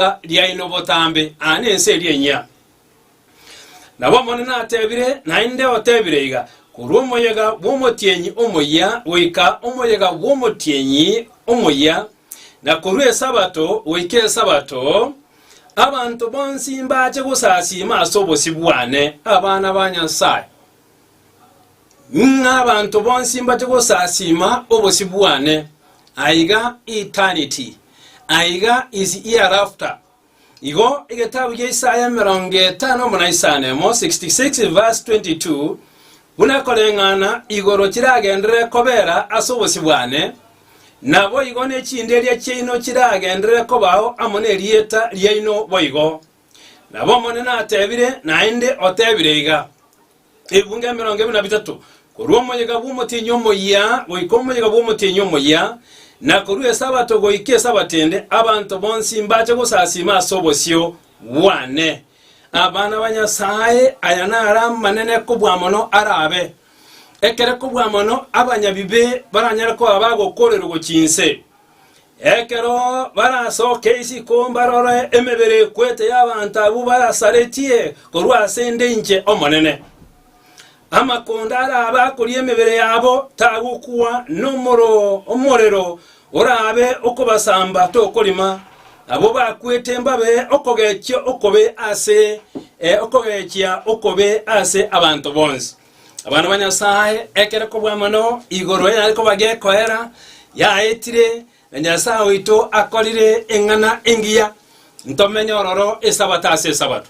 ribaga riaino botambe, aa nense eria enyia. Nabo Omonene atebire, naende otebire iga, Korwa omoyega bw'omotienyi omoyia goika omoyega bw'omotienyi omoyia, na korwa Esabato goika Esabato, abanto bonsi mbache gosasiima ase obosio bwane, abana ba Nyasae. ng'a abanto bonsi mbate gosasiima obosio bwane, aiga eternity, aiga is hereafter. Igo egetabu gia Isaya emerongo etano buna isano emo, 66 verse 22, buna ekoreng'ana igoro chiragenderere kobera ase obosio bwane, naboigo ne chinderia chiaino chiragenderere kobao amo nerieta riaino boigo. Nabo Omonene atebire, naende otebire iga, Ebibungo emerongo ebere na bitato, korwa omoyega bw'omotienyi omoyia goika omoyega bw'omotienyi omoyia, na korwa Esabato goika Esabato ende, abanto bonsi mbache gosasiima ase obosio bwane. Abana ba Nyasae, aya naro amanene kobua mono arabe, ekere kobua mono abanyabibe baranyare koba bagokoorerwa gochia inse. Ekero barasoke isiko mbarore emebere ekwete y'abanto abwo barasaretie korwa ase ende inche Omonene. Amakonda arabe akoria emebere yabo tagokwa nomoro omorero orabe okobasamba tokorima, abwo bakwete mbabe okogechia okobe ase okogechia okobe ase abanto bonsi. Abana ba Nyasae, ekero kobua mono igoro enyare koba gekoera, yaetire, na Nyasae oito akorire eng'ana engiya ntomenye ororo Esabato ase Esabato.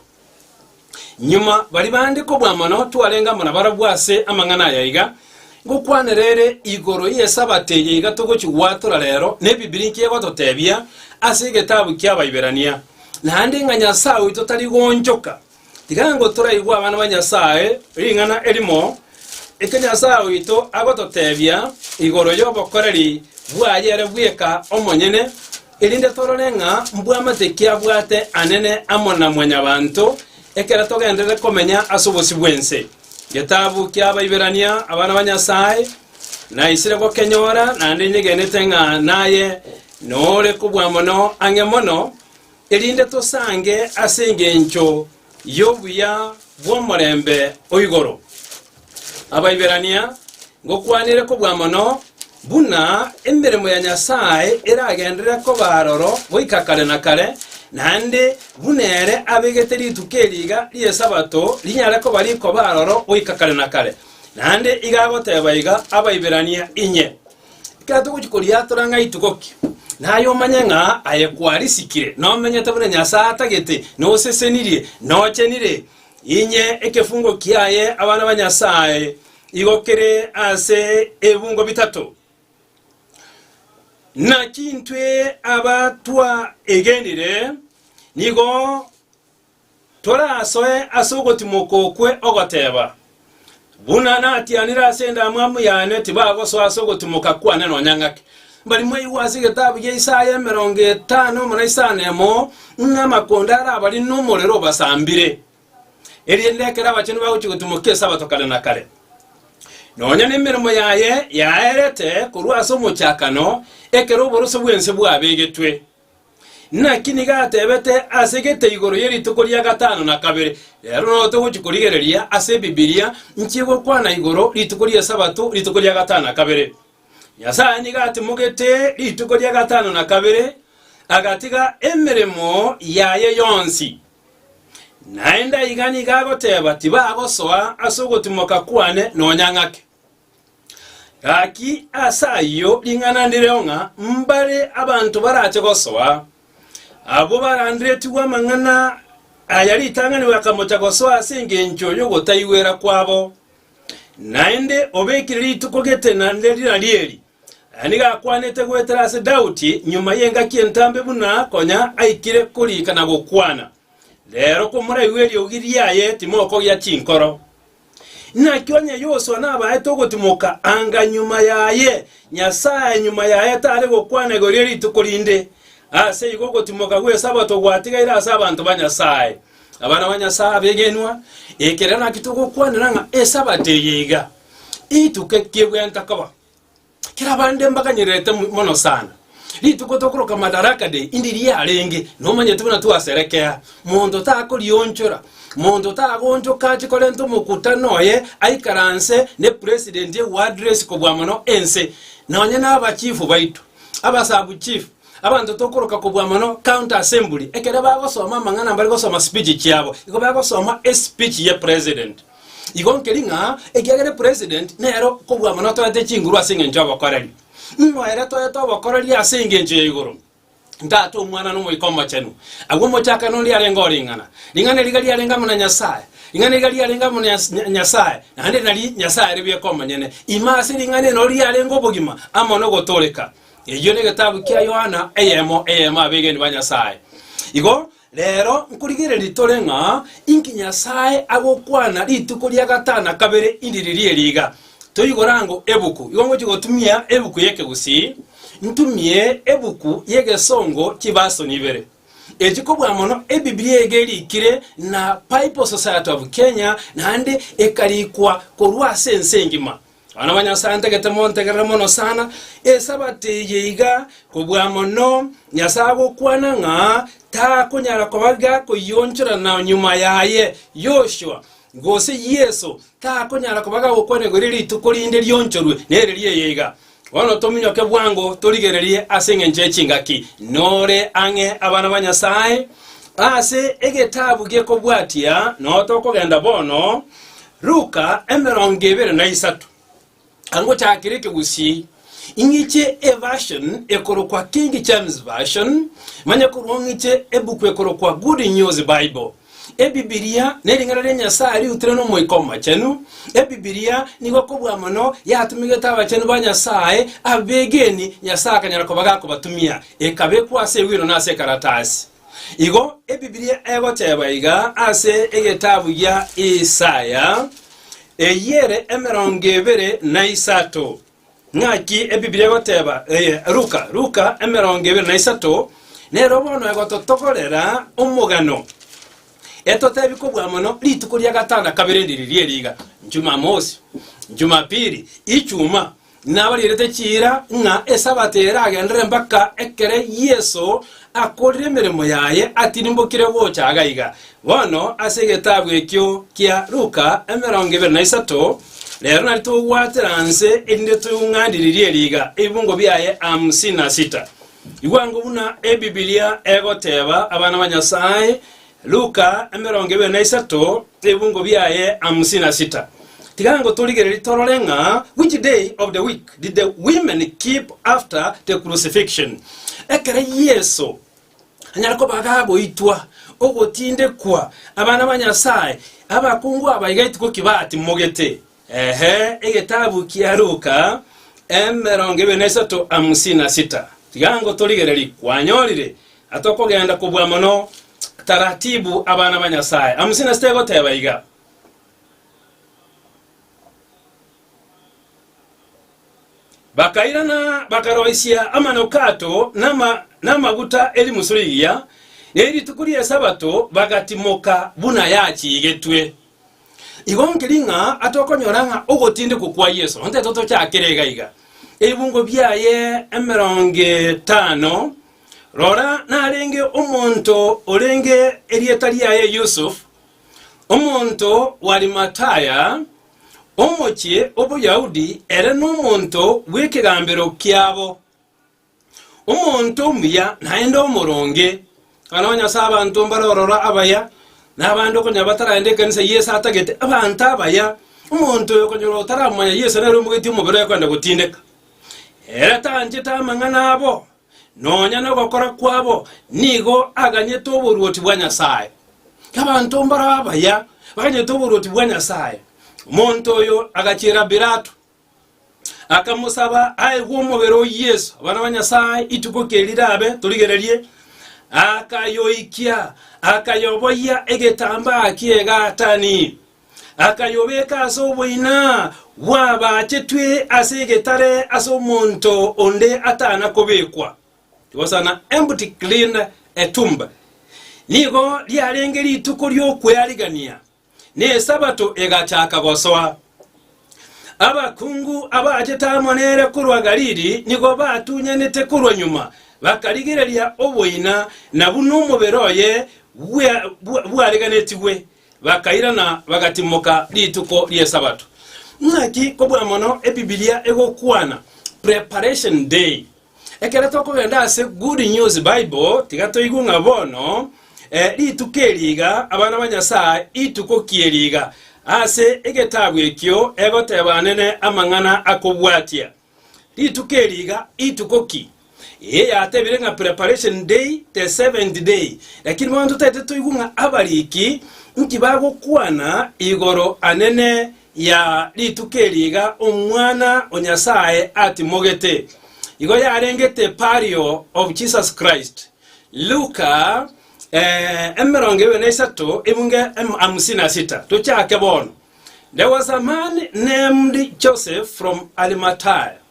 Nyuma bari bande kobua mono twarenge amo nabarabwo ase amang'ana aya iga, Ngokwanera ere igoro y'Esabato eye iga togochi gwatora rero, na Ebibiri inki egototebia ase egetabu ki'Abaiberania? Naende ng'a Nyasae oito tari goonchoka, Igango toraigwe abana ba Nyasae ring'ana erimo eke Nyasae oito agototebia igoro y'obokoreri bwaye ere bweka omonyene, erinde torore ng'a mbwamate ki abwate anene amo na mwanyabanto ekero togenderere komenya ase obosio bw'ense. Getabu ki'Abaiberania abana ba Nyasae naisire gokenyora, naende inyegenete ng'a naye nore kobua mono ang'e mono, erinde tosange ase engencho y'obuya bw'omorembe o igoro. Abaiberania, ngokwanere kobua mono, buna emeremo ya Nyasae eragenderere koba aroro goika kare na kare, naende buna ere abegete rituko eri iga ri'Esabato rinyare koba rikoba aroro goika kare na kare. Naende iga agoteba iga, Abaiberania inye. Ekero togochia koriatora ng'a rituko ki, naye omanye ng'a aye kwarisikire, nomenyete buna Nyasae atagete, nosesenirie, nochenire, inye ekefungo kiaye abana ba Nyasae, igo kere ase ebibungo bitato. Naki intwe abatwaegenire nigo Torasoe ase ogotimoka okwe ogoteeba, Buna natianire ase endamwamu yane, tibagosoa ase ogotimoka kwane nonya ng'ake. Mbari mwaigwe ase egetabu gia Isaya emerongo etano na isano emo ng'a amakonda arabarine nomorero obasambire, erinde ekero abachenu bagochia gotimoka Esabato kare na kare, nonya nemeremo yaye yaerete korwa ase omochakano, ekero oborosio bw'ense bwabegetwe. Naki nigo atebete ase gete igoro ye rituko ria gatano na kabere. Rero nao togochia korigereria ase Ebibilia nki gokwana igoro rituko ri'Esabato rituko ria gatano na kabere. Nyasae nigo atimogete rituko ria gatano na kabere, agatiga emeremo yaye yonsi. Naende aiga nigo agoteba tibagosoa ase ogotimoka kwane nonya ng'ake. Gaki ase ayio ring'ana ndireo ng'a mbare abanto barache gosoa, abwo baranderetigwe amang'ana aya ritang'ani bakamocha gosoa ase engencho y'ogotaigwera kwabo. Naende obekire rituko getena nerina rieri, aya nigo akwanete goetera ase Daudi nyuma y'engaki entambe buna konya aikire korika na gokwana, Rero komoraigwe eriogi riaye timokogia chinkoro. Naki onye Yosua nabaete ogotimoka anga nyuma yaye, Nyasae nyuma yaye tare gokwana igoro ye rituko rinde. Ase igo ogotimoka gw'Esabato gwatigaire ase abanto ba Nyasae. Abana ba Nyasae abegenwa, ekero naki togokwanera ng'a Esabato eye iga, ituko ekiegwenta koba. Kera bande mbaganyererete mono sana. Rituko tokoroka Madaraka Day indi riarenge, nomanyete buna twaserekea. Monto takorionchora, monto tagonchoka ache korenta omokutano oye aikaranse ne president e uaddress kobua mono ense. Nonye na aba chief baito, aba sub chief, abanto tokoroka kobua mono county assembly, ekero bagosoma amang'ana mbare gosoma speech chiabo, igo bagosoma espeech ye president. Igo nkeri ng'a ekiagera president nero kobua mono toete chinguru ase engencho y'obokoreri. Ng'o ere toete obokoreri ase engencho ya igoro? Tata, Omwana, na Omoika Omochenu. Agwo omochakano oria arenge o ring'ana. Ring'ana eri iga riarenge amo na Nyasae. Ring'ana iga riarenge amo na Nyasae, naende nari Nyasae are bweka omonyene. Ime ase ring'ana ere noro riarenge obogima amo nogotooreka. Eyio negetabu kia Yohana eyemo eyemo abegeni ba Nyasae. Igo Reero nkorigereria tore ng'a inki Nyasae agokwana rituko ria gatana kabere indi riria eri iga, toigora ango ebuku. Igo ngochia gotumia ebuku y'Ekegusii, ntumie ebuku y'Egesongo chibasoni ibere. Echi kobua mono Ebibilia ege erikire na Bible Society of Kenya naende ekarikwa korwa ase ense engima. Abana ba Nyasae ntagete montegerere mono sana, Esabato eye iga kobua mono, Nyasae agokwana ng'a takonyara koba gakoyionchora na nyuma yaye Yoshua, gose Yeso takonyara koba gagokwana igoro eria rituko rinde rionchorwe nere ri'eye iga. Bono tominyoke bwango torigererie ase engencho ye chingaki nore ang'e abana ba Nyasae, ase egetabu gekobwatia notokogenda bono, Luka emerongo ebere na isato. Angochakire ekegusii, ing'iche eVersion ekorokwa King James Version, manye korwa ng'iche ebuku ekorokwa Good News Bible. Ebibilia nering'ana ria Nyasae riutirwe n'Omoika Omochenu. Ebibilia nigo kobua mono yatumigete abachenu ba Nyasae abegeni Nyasae akanyara koba gakobatumia, ekabekwa ase ewino na ase ekaratasi. Igo Ebibilia egoteeba iga ase egetabu gia Isaya, Eyio ere emerongo ebere na isato. Ng'aki Ebibilia egoteeba eye? Luka, Luka emerongo ebere na isato, nero bono egototogorera omogano etotebi kobua mono rituko ria gatana kabere ndiri ri'eriga, Jumamosi, Jumapili, Ichuma, Nabarierete chiira ng'a Esabato eye eragenderere mpaka ekero Yeso akorire emeremo yaye atirimbokire gocha iga iga. Bono ase egetabu ekio kia Luka emerongo ebere na isato, rero nari togwatera nse erinde toung'andiririe riga ebibungo biaye hamsini na sita. Igwa ngobuna Ebibilia egoteba abana ba Nyasae Luka emerongo ebere na isato, ebibungo biaye hamsini na sita. Tiga ngotorigererie torore ng'a which day of the week did the women keep after the crucifixion? Ekero Yeso anyare koba agagoitwa, ogotindekwa, abana ba Nyasae, abakungu aba iga ituko ki batimogete? Ehe, egetabu kia Luka, emerongo ebere na isato amusi na sita. Tiga ngotorigererie, kwanyorire atokogenda kobua mono taratibu abana ba Nyasaye. Amusi na sita egoteba iga. Bakairana bakaroisia amanukato nama, namaguta erimusu rigiya, ne rituko ri'esabato bagatimoka buna yachigetwe. Igo nkeri ng'a atokonyora ng'a ogotindekwa kwa Yeso onteto tochakere iga iga, ebibungo biaye emerongo etano, rora, narenge omonto orenge erieta riaye Yusuf, omonto w'Arimataya, omochie o Boyahudi, ere nomonto bw'ekegambero kiabo. Omonto omuya naende omoronge, ekero onye ase abanto mbare ororo abaya, na abande okonyora bataragenda ekanisa ya Yeso atagete abanto abaya, omonto oyo okonyora otaramanya Yeso nere omogeti omobere oye koenda gotindeka. Ere tanchete amang'ana abo, nonya nogokora kwabo, nigo aganyete oboruoti bwa Nyasae. Abanto mbaro abaya baganyete oboruoti bwa Nyasae. Omonto oyo agachiera Pilato, akamosaba aegwe omobere o Yeso. Abana ba Nyasae, ituko keri rabe, torigererie, akayoikia, akayoboyia egetambaa ki'egatani, akayobeka ase oboina bw'abaachetwe ase egetare ase omonto onde atana kobekwa. It was an empty clean a tomb. Nigo riarenge rituko ri'okwearigania, na Esabato egachaka gosoa. Abakungu abaachete amo nere korwa Galili nigo batunyanete korwa nyuma, bakarigereria oboina na buna omobere oye bwa- bwa- bwareganetigwe, bakairana bagatimoka rituko ri'Esabato. Naki kobua mono Ebibilia egokwana Preparation Day, Ekero tokogenda ase Good News Bible, tiga toigwe ng'a bono eh, rituko eri iga, abana ba Nyasae, ituko ki eri iga? Ase egetabu ekio egoteba Anene amang'ana akobwatia. Rituko eri iga, ituko ki? Eye yatebire ng'a preparation day, the seventh day. Lakini bono totaete toigwe ng'a abariki nki bagokwana igoro Anene ya rituko eri iga Omwana o Nyasae atimogete, igo yarengete Pario of Jesus Christ, Luka eh, emerongo ebere na isato ebunge em- hamsini na sita. Tochake bono. There was a man named Joseph from Arimathea.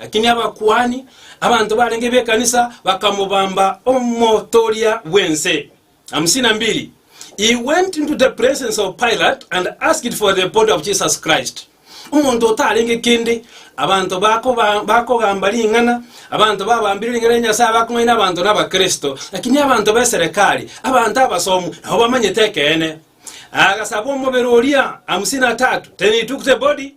Lakini abakuani, abanto barenge b'ekanisa, bakamobamba omotooria bw'ense. Hamsini na mbili. He went into the presence of Pilate and asked for the body of Jesus Christ. Omonto otarenge kende, abanto bakoba- bakogamba ring'ana, abanto babambire ring'ana ria Nyasae bakong'aina abanto n'Abakristo, lakini abanto b'eserekari, abanto abasomu, nabo bamanyete ekeene. Agasaba omobere oria. Hamsini na tatu. Then he took the body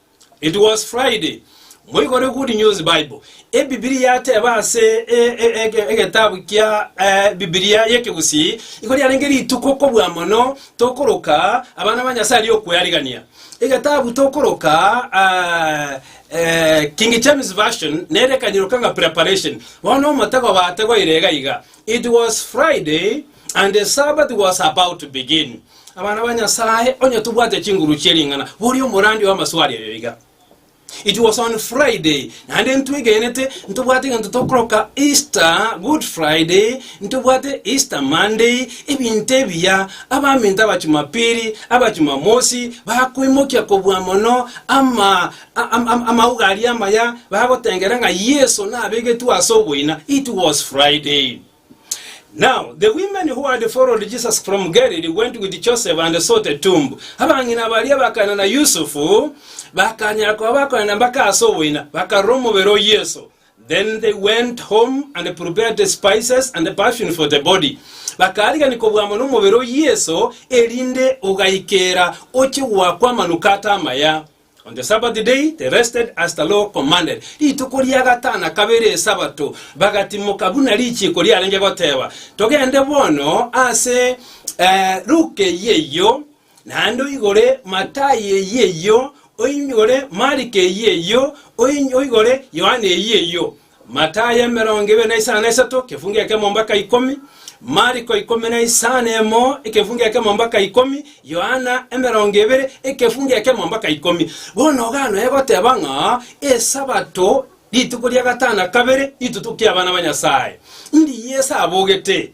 It was Friday. Moigore Good News Bible, Ebibilia yateba ase e- e- ege- egetabu kia eh, Bibilia y'Ekegusii, igo riarenge rituko kobua mono tokoroka abana ba Nyasae ri'okwearigania. Egetabu tokoroka ah, eh, King James Version nere kanyiroka ng'a preparation. Bono omotego bategwa ire iga iga. It was Friday, and the Sabbath was about to begin. Abana ba Nyasae, onye tobwate chinguru chie ring'ana, boria omorandi w'amaswali ayo iga. It was on Friday, naende ntwegenete, ntobwate egento tokoroka Easter, Good Friday, ntobwate Easter Monday, ebinto ebiya, abaminto abachumapiri, abachumamosi, bakoimokia kobua mono ama Amauga aria amaya bagotengera ng'a Yeso nabegetwe ase oboina, it was Friday. Now the women who had followed Jesus from Galilee went with Joseph and saw the tomb. Abang'ina baria bakana na Yusufu bakanyara koba bakonena mpaka ase oboina, bakarora omobere o Yeso. Then they went home and prepared the spices and the perfume for the body. Bakaarigania kobwamwa nomobere o Yeso, erinde ogaikera oche goakwa amanukato amaya. On the Sabbath day they rested as the law commanded, rituko ria gatana kabere Esabato bagatimoka buna richiiko riarenge goteba. Togende bono ase eh, Luke eyio eyio, naende oigore Matai eyio eyio, oigore Mariko eyio eyio, oin- oigore Yohana eyio eyio. Matayo emerongo ebere na isano na isato, ekefungo ekemo mpaka ikomi, Mariko ikomi na isano emo, ekefungo ekemo mpaka ikomi, Yohana emerongo ebere, ekefungo ekemo mpaka ikomi. Bono iga noe goteba ng'a Esabato, rituko ria gatano na kabere, ritutuko ki'abana ba Nyasae. Mbiya ase abogete,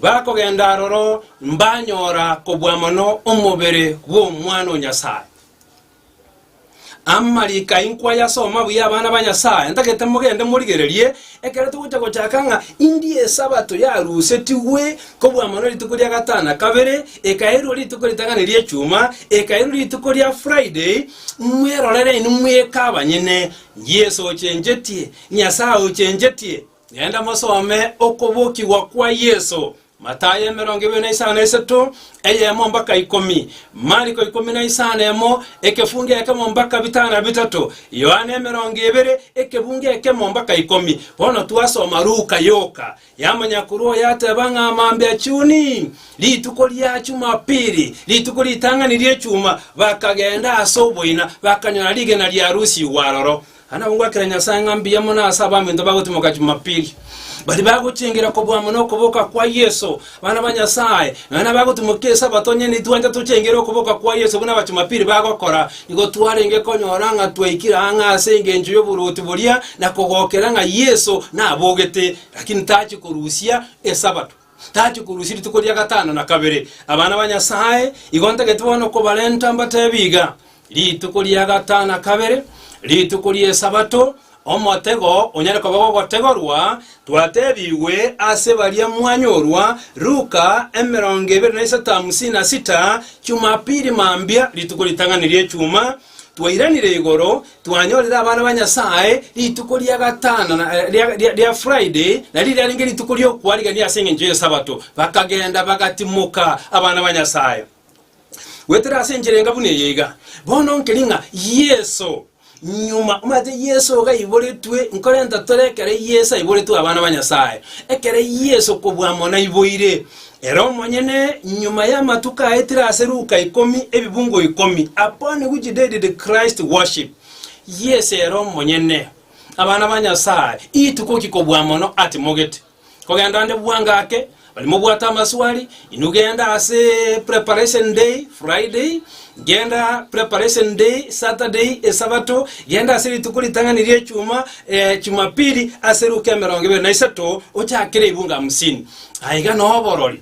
Bakogenda aroro mbanyora kobua mono omobere bw'Omwana o Nyasae. Amariko aye nkwayasoma buya abana ba Nyasae, ntagete mogende morigererie ekero togocha gochaka ng'a indie Esabato yarusetigwe kobua mono rituko ria gatano na kabere, ekairwa rituko ritang'ani ri'Echuma, ekairwa rituko ria Friday, mwerorere inwe mweka abanyene, Yeso ochenchetie, Nyasae ochenchetie. Genda mosome okobokigwa kwa Yeso, Mathayo emerongo ebere na isano na isato, eyemo mpaka ikomi, Mariko ikomi na isano emo, ekefungu ekemo mpaka bitano na bitato, Yohana emerongo ebere, ekefungu ekemo mpaka ikomi. Bono twasoma Luka yoka ya monyakuru oyo ateba ng'a mambia chuni, rituko ria Chumapili, rituko ritang'ani ri'echuma, bakagenda ase oboina, bakanyora rigena riarusigwe aroro. Anagogwakera Nyasae ng'a mbuya mono ase abaminto bagotimoka Jumapili, baria bagochengera kobua mono okoboka kwa Yeso, abana ba Nyasae, nonya nabagotimoka Esabato, onye nitwancha tochengere okoboka kwa Yeso buna Abajumapili bagokora, nigo twarenge konyora ng'a twaikire ang'e ase engencho y'oboruoti boria na kogokera ng'a Yeso nabogete, lakini tachi korusia Esabato. Tachia korusia rituko ria gatano na kabere. Abana ba Nyasae, igo ntagete bono kobarenta mbateebie iga, Rituko ria gatano na kabere, rituko ri'Esabato, omotego onyare koba gogotegorwa, twateebigwe ase baria mwanyorwa, Luka emerongo ebere na isato hamsini na sita, Chumapili mambia, rituko ritang'ani ri'Echumaa, Twairanire igoro, twanyorire abana ba Nyasae rituko ria gatano na ria Friday, nario riarenge rituko ri'okwarigania ase engencho y'Esabato. Bakagenda bagatimoka abana ba Nyasae. Goetera ase enchera enga buna eye iga, bono nkeri ng'a Yeso nyuma, omanyete Yeso iga aiboretwe, nkorenta tore ekero Yeso aiboretwe abana ba Nyasae, ekero Yeso kobua amo naiboire, Ere omonyene, nyuma y'amatuko aetire ase Luka ikomi, ebibungo ikomi, upon which day did Christ worship? Yes, ere omonyene. Abana ba Nyasae, ituko ki kobua mono atimogete? Kogenda onde bua ngake, bari mobwate amaswali, inwe genda ase preparation day, Friday, genda preparation day, Saturday, esabato, genda ase rituko ritang'ani ri'echuma, eh, Jumapili, ase Luka emerongo ebere na isato, ochakere ibungo hamsini. Aiga noborori,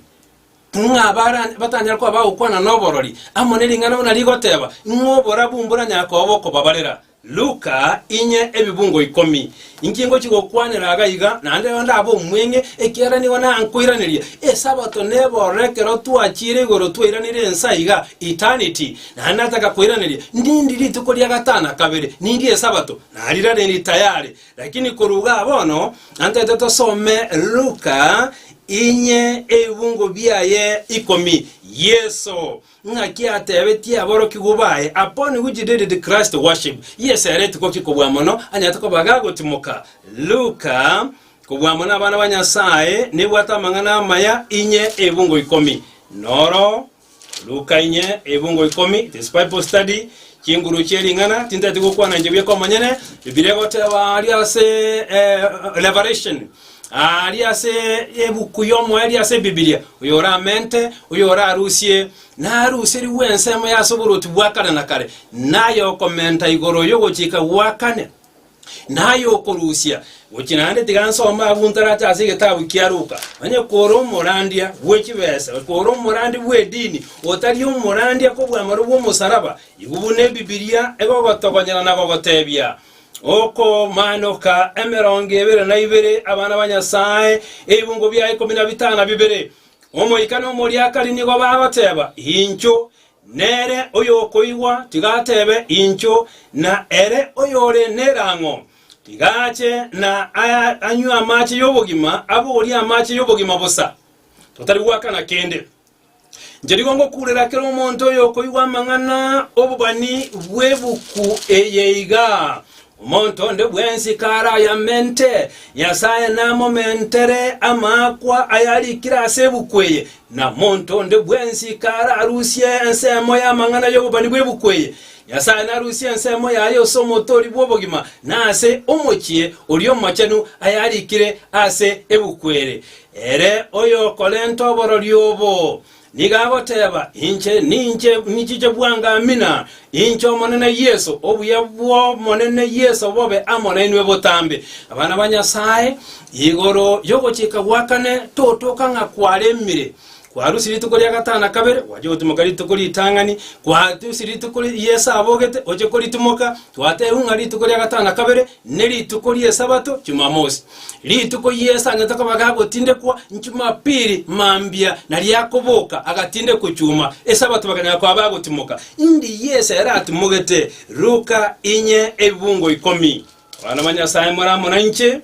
ng'a abare batanyare koba bagokwana noborori amo ne ring'ana buna rigoteba, ng'a oborabu mboranyare koba bokobabarera. Luka, inye ebibungo ikomi. Inki ngochia gokwanera iga iga? Naende rero ndabe omweng'e, ekiagera nigo nankoiraneria. Esabato nebororo ekero twachiire igoro twairanire ense aiga, eternity, naende nataka koiraneria, Nindi rituko ria gatano na kabere? Nindi Esabato? Narirariri tayari. Lakini korwa igaa bono, antaete tosome Luka inye ebibungo biaye ikomi. Yeso, ng'aki atebetie aborokigwa baye, Upon which did the Christ worship? Yeso ere rituko ki kobua mono anyarete koba gagotimoka? Luka, Kobua mono abana ba Nyasaye, nebwate amang'ana amaya inye ebibungo ikomi. Noro. Luka inye ebungo ikomi this Bible study chinguru chie ring'ana tintati gokwana inche bieka omonyene Bibilia egoteba ari ase eh, Revelation ari ase ebuku y'omoyo ari ase Bibilia oyo oramente oyo orarusie naruserigwe ensemo ya ase oboroti bwa kare na kare naye okomenta igoro y'ogochika gwa kane na ay'okorusia, gochia naende tiga nsome agwo ntarache ase egetabu kia Luka, onye kore omorandia bwe chibesa, kore omorandia bw'edini, otari omorandia kobw'amaro bw'omosaraba, igo buna Ebibilia egogotogonyera na gogotebia, Okomanoka emerongo ebere na ibere abana ba Nyasae, ebibungo bia ikomi na bitano na bibere. Omoika na omoriakari nigo bagoteba, Inchuo, Nere oyokoigwa tiga atebe, Inchuo! Na ere oyore nerang'o, tiga ache na anywe amache y'obogima, aborie amache y'obogima bosa, totari goakana kende. Inche nigo ngokurera kera omonto oyokoigwa amang'ana 'obobani bw'ebuku eye iga, Omonto onde bwensi karayamente Nyasae namomentere amaakwa ayarikire ase ebuku eye, na monto onde bwensi kararusie ensemo y'amang'ana y'obobani bw'ebuku eye, Nyasae narusie ensemo yaye ase omotori bw'obogima, na ase omochie oria omochenu ayarikire ase ebuku ere. Ere oyokorenta oborori obo. Nigo agoteeba, Inche ninche nchiche bwangamina, inche Omonene Yeso, obuya bw'Omonene Yeso bobe amo nainwe botambe, abana ba Nyasae. Igoro y'ogochika gwa kane totoka ng'a kwaremire, kwarusia rituko ria gatano na kabere, gwachia gotimoka rituko ritang'ani, kwarusia rituko ri'esaabogete, gochia koritimoka, twatebiwu ng'a rituko ria gatano na kabere ne rituko ri'Esabato Chumamosi. Rituko ri'esangeto akaba gagotindekwa Chumapili mambia, na riakoboka agatindekwa Chuma, Esabato bakanyara koba bagotimoka. Indi Yeso ere atimogete, Luka inye ebibungo ikomi. Abana ba Nyasae more amo nainche,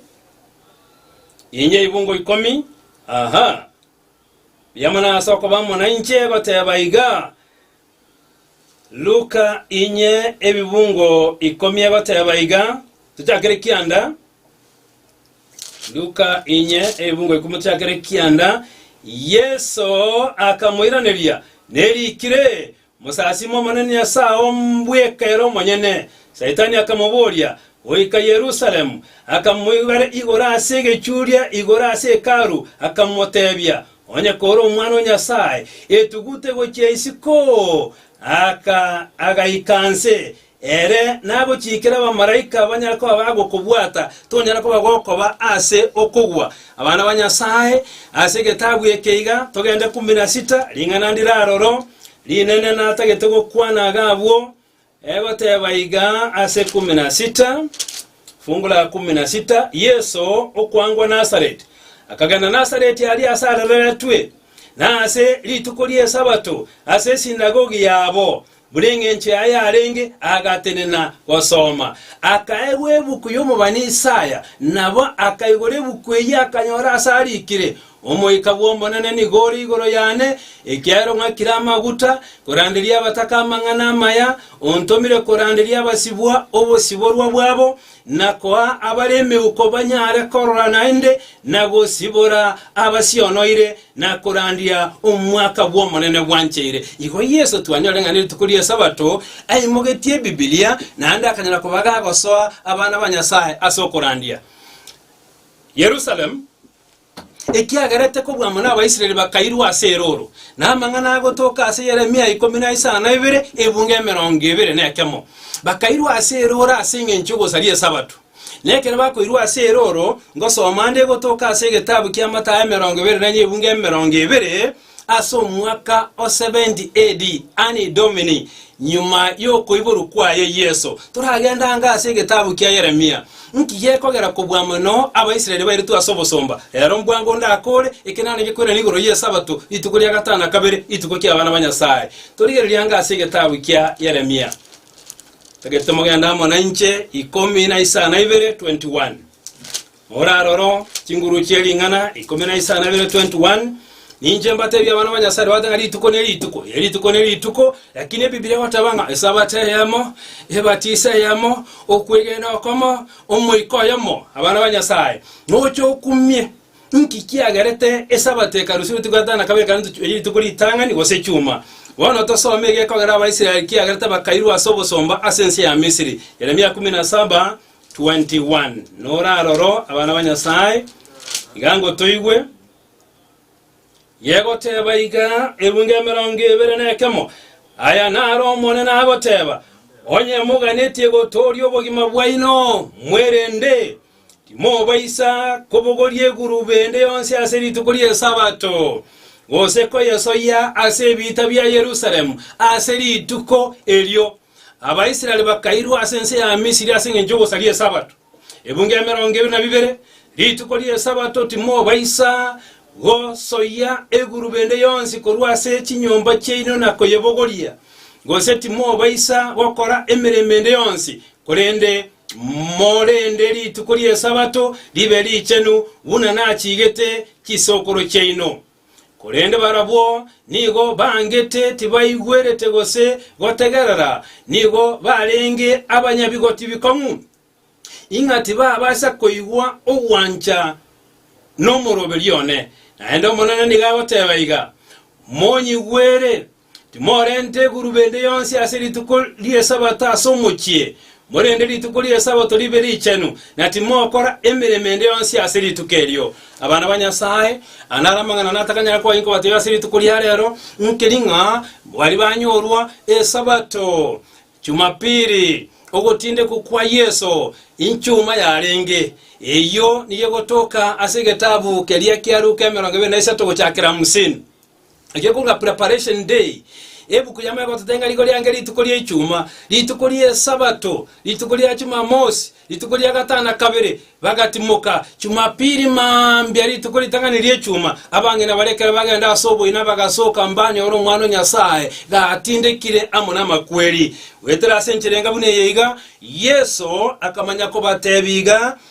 inye ebibungo ikomi, aha. Biamo nase okoba amo nainche goteba iga, Luka inye ebibungo ikomi agoteba iga, tochakere kianda. Luka inye ebibungo ikomi tochakere kianda. Yeso akamoiraneria, nerikire, Mosasime Omonene Nyasae oo mbweka ere omonyene. Saitani akamoboria, goika Yerusalemu, akamoibera igoro ase egechuria igoro ase Hekalu, akamotebia, Onye kore Omwana o Nyasae, etugute gochia isiko. Aka agaika inse, ere nagochiikere abamalaika banyare koba bagokobwata, tonyare koba gokoba ase okogwa. Abana ba Nyasae, ase egetabu eke iga togende kumi na sita, ring'ana ndiraroro, rinene natagete gokwana iga abwo, Egoteba iga ase kumi na sita, fungu la kumi na sita, Yeso, okwangwa Nazareti, akagenda Nazareti aria ase arereretwe, na ase rituko ri'Esabato ase esinagogi yabo, buna engencho yaye yarenge, agatenena gosoma. Akaegwa ebuku y'omobani Isaya, nabo akaigora ebuku eyio akanyora ase arikire, Omoika bw'Omonene nigo ore igoro yane, ekiagera ong'akire amaguta koranderia abataka amang'ana amaya, ontomire koranderia abasibwa obosiborwa bwabo, na koa abare emeuko banyare korora naende, na gosibora abasionoire, na korandia omwaka bw'Omonene bwancheire. Igo Yeso twanyore ng'a nerituko ri'Esabato aimogetie ebibilia, naende akanyara koba gagosoa abana ba Nyasae ase okorandia. Yerusalemu. Ekiagera tekobwamwa n'Abaisraeli bakairwa ase erooro, na amang'ana agotoka ase Yeremia ikomi na isano na ibere, ebungo emerongo ebere nekemo. Bakairwa ase erooro ase engencho y'ogosaria Esabato. Na ekero bakoirwa ase erooro, ngosoma ande egotoka ase egetabu ki'amatayo emerongo ebere na enye ebungo emerongo ebere, Ase omwaka o 70 AD, Anni Domini, nyuma y'okoiborwa kwaye Yeso, toragenda ango ase egetabu kia Yeremia. Inki gekogera kobua mono Abaisraeli bairetwe ase obosomba? Rero mbwango ndakore ekenane gekweranire igoro y'Esabato, rituko ria gatano na kabere, rituko ki'abana ba Nyasae. Torigererie ango ase egetabu kia Yeremia. Tagete mogende amo nainche, ikomi na isano na ibere, 21. Moraroro chinguru chie ring'ana ikomi na isano na bibere 21 Ninche mbateebie abana ba Nyasae rwabate ng'a rituko ne rituko, ee, rituko ne rituko, lakini Ebibilia egoteba ng'a Esabato eyemo, ebatiso eyemo, okwegena okomo, omoika oyomo. Abana ba Nyasae, noche okumie inki kiagerete Esabato ekarusia rituko gatano na kabere ekero ntochi- eri rituko ritang'ani gose chuma. Bono tosome egekogera Abaisraeli kiagerete bakairwa ase obosomba ase ense ya Misiri, Yeremia kumi na saba, 21 nora aroro, abana ba Nyasae, iga ngotoigwe, yegoteba iga, Ebunga emerongo ebere nekemo, aya naro Omonene agoteba, Onye moganetie gotooria obogima bwaino, mwerende, timobaisa kobogoria egurube ende yonsi ase rituko ri'Esabato, gose koyesoyia ase ebiita bia Yerusalemu ase rituko erio. Abaisraeli bakairwa ase ense ya Misiri ase engencho y'ogosaria Esabato, ebungo emerongo ebere na bibere. Rituko ri'Esabato timobaisa gosoyia egurube ende yonsi korwa ase chinyomba chiaino na koyebogoria, gose timobaisa gokora emeremo ende yonsi, korende morende rituko ri'Esabato ribe richenu, buna nachiigete chisokoro chiaino. Korende barabwo nigo bangete tibaigwerete gose gotegerera, nigo barenge abanyabigoti bikong'u, ing'a tibabaasa koigwa ogwancha nomoroberio one. Naende Omonene nigo agoteeba iga, Monyigwere, Timorenta eguruba ende yonsi ase rituko ri'Esabato ase omochie, morende rituko ri'Esabato ribe richenu, na timokora emeremo ende yonsi ase rituko erio. Abana ba Nyasae, aya naro amang'ana natakanyare koa inkobateebia ase rituko ria reero, nkeri ng'a baria banyorwa Esabato, Chumapiri, ogotindekwa kwa Yeso, inchuma yarenge. Eyio nigo egotoka ase egetabu keria kia Luka emerongo ebere na isato gochakera hamsini. Erio korwa Preparation Day, ebuku yamo egototebia ng'a rigo riange rituko ria Ichuma, rituko ri'Esabato, rituko ria Chumamosi, rituko ria gatana kabere, bagatimoka, Chumapili mambia, rituko ritang'ani ri'Echuma, abang'ina baria ekero bagenda ase oboina bagasoka mbanyore Omwana o Nyasae gatindekire amo namakweri. Goetera ase enchera enga buna eye iga, Yeso akamanya kobatebia iga,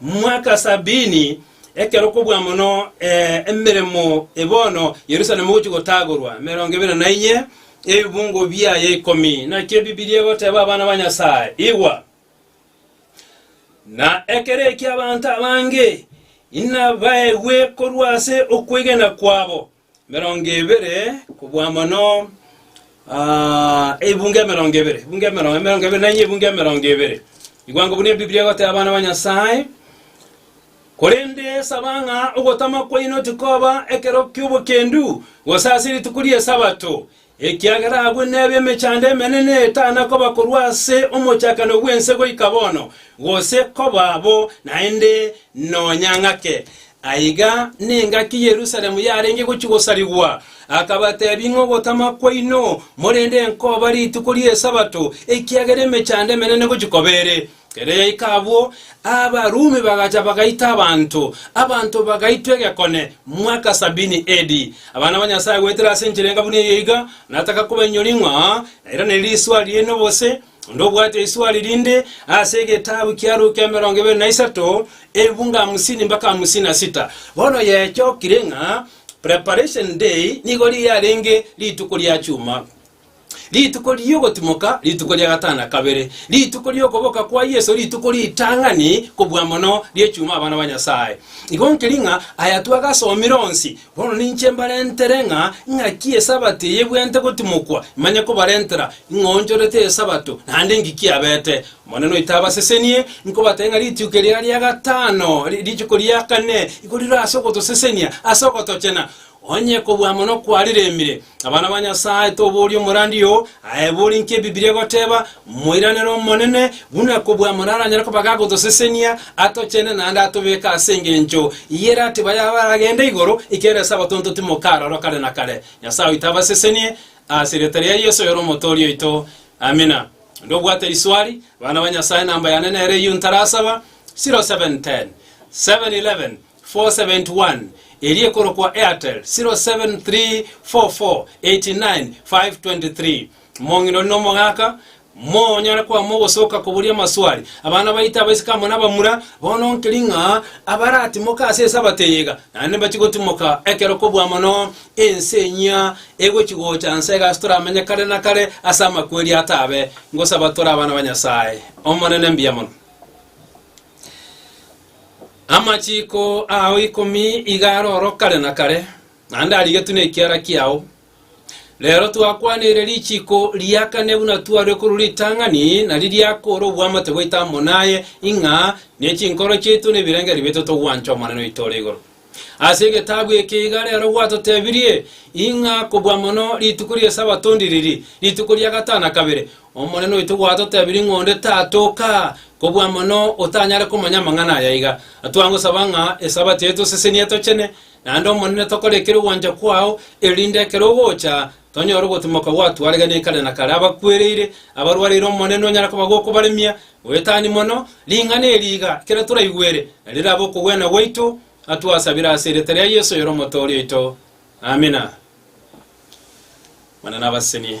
Mwaka sabini, ekero kobua mono emeremo e bono Yerusalemu egochia gotagorwa, emerongo ebere na inye, ebibungo biaye ikomi. Naki Ebibilia egoteba, Abana ba Nyasae, igwa! Na ekero ekio abanto abange inabaegwe korwa ase okwegena kwabo, Emerongo ebere kobua mono, ebunga emerongo ebere, ebunga emerongo, emerongo ebere nanye ebunga emerongo ebere. Igwango buna Ebiblia egoteba abana ba Nyasae, korende saba ng'a ogotama kwaino tikoba ekero ki'obokendu, gose ase rituko ri'Esabato, Ekiagera agwo nebe emechando emenene etana koba korwa ase omochakano bw'ense goika bono, gose koba bo naende nonya ng'ake. Aiga nengaki Yerusalemu yarenge gochia gosarigwa. Akabatebia, Ing'o ogotama kwaino, morende enkoba rituko ri'Esabato, ekiagera emechando emenene gochia koba ere? Erio abwo Abarumi bagacha bagaita abanto, abanto bagaitwa egekone, mwaka sabini AD. Abana ba Nyasae goetera ase enchera enga buna eye iga, nataka koba enyori ng'a nairane riswa ri'ene obose, onde obwate iswari rinde, ase egetabu kia Luka emerongo ebere na isato, efungu hamsini mpaka hamsini na sita. Bono yechokire ng'a Preparation Day nigo riarenge rituko ria chuma. Rituko ri'ogotimoka, rituko ria gatano na kabere, rituko ri'okoboka kwa Yeso, rituko ritang'ani kobua mono ri'echuma abana ba Nyasae. Igo nkeri ng'a aya twagasomire onsi, bono ninche mbarentere ng'a ing'aki Esabato eye ebwenerete gotimokwa, imanye kobarentera ing'oonchorete Esabato, naende inki kiabete. Omonene oito abasesenie, nkobateebia ng'a rituko eria ria gatano, rituko ria kane, igo rire ase ogotosesenia, ase ogotochena, Onye kobua mono kwariremire, abana ba Nyasae, toboria omorandi oo aye bori inki Ebibilia egoteba, moiranere Omonene, buna kobua mono aranyare koba gagotosesenia, atochene naende atobeke ase engencho ye ratiba yabo aragende igoro, ekiagera ase abatonto timoka aroro kare na kare. Nyasae oito abasesenie, ase erieta ria Yeso oyore Omotooria oito. Amina. Onde obwate riswari, abana ba Nyasae, namba yane nere eyio ntarasaba, 0710 711 471 eria ekorokwa Airtel 0734489523 Mong'ina ore nomogaka monyare kwama ogosoka koboria amaswali abana baito abaiseke amo nabamura bono nkeri ng'a abaratimoke ase esabato eye iga naende mbachi gotimoka ekero kobua mono ense enyia egochi gocha nsa iga ase toramenye kare na kare ase amakweri atabe ngosaba tore abana ba Nyasaye omonene mbuya mono. Amachiiko ao ikomi iga aroro kare na kare, naende arigetwe nekiara kiao. Reero twakwaniire richiiko ria kane buna twarue korwa ritang'ani, nario riakoora obwamate bwaito amo naye, ing'a nechinkoro chiaito na ebirengererio biaito togwancha Omonene oito ore igoro. Ase egetabu eke iga rero gwatotebirie ing'a kobua mono rituko ri'Esabato ndiriri, rituko ria gatana kabere. Omonene oito gwatotebirie ng'a onde tatoka kobua mono otanyare komanya amang'ana aya iga. Twangosaba ng'a Esabato yaito osesenie tochene, naende Omonene tokore ekero ogwancha kwao, erinde ekero ogocha tonyore ogotimoka gwatwaregania kare na kare. Abakwereire, abarwareire Omonene onyare kobagoka obaremia, Goetani mono ring'ana eri iga ekero toraigwere, na rirabe okogwena gwaito, atwasabire ase erieta ria Yeso oyore Omotoori oito. Amina. Mana nabasesenie.